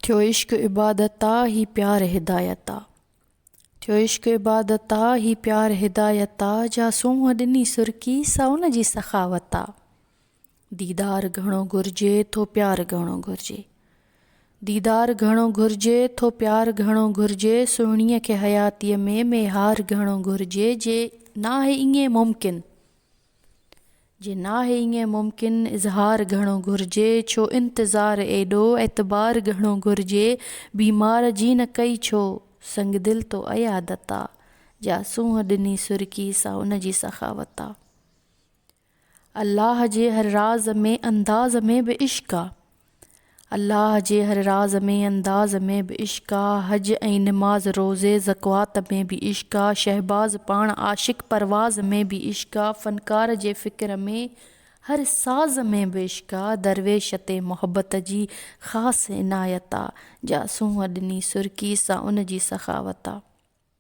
ٿيو عشق عبادت آ هي پيار هدايت آ ٿيو عشق عبادت آ هي پيار هدايت آ جا سونهن ڏني سرڪي سا ان جي سخاوت آ ديدار گهڻو گهرجي ٿو پيار گهڻو گهرجي ديدار گهڻو گهرجي ٿو پيار گهڻو گهرجي سهڻيء کي حياتيء ۾ ميهار گهڻو گهرجي جي ناهي ائين ممڪن جي ناهي ائين ممڪن اظهار گهڻو گهرجي ڇو انتظار ايڏو اعتبار گهڻو گهرجي بيمار جي نه ڪئي ڇو سنگدل تو عيادت آ جا سونهن ڏني سرڪي سا ان جي سخاوت آ الله جي هر راز ۾ انداز ۾ به عشق آ الله جي هر راز ۾ انداز ۾ به عشق آ حج ۽ نماز روزي زڪوات ۾ به عشق آ شهباز پاڻ عاشق پرواز ۾ به عشق آ فنڪار جي فڪر ۾ هر ساز ۾ به عشق آ درويش تي محبت جي خاص عنايت آ جا سونهن ڏني سرڪي سا ان جي سخاوت آ.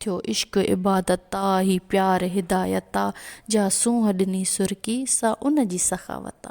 ٿيو عشق عبادت آ، هي پيار هدايت آ، جا سونهن ڏني سرڪي، سا ان جي سخاوت آ.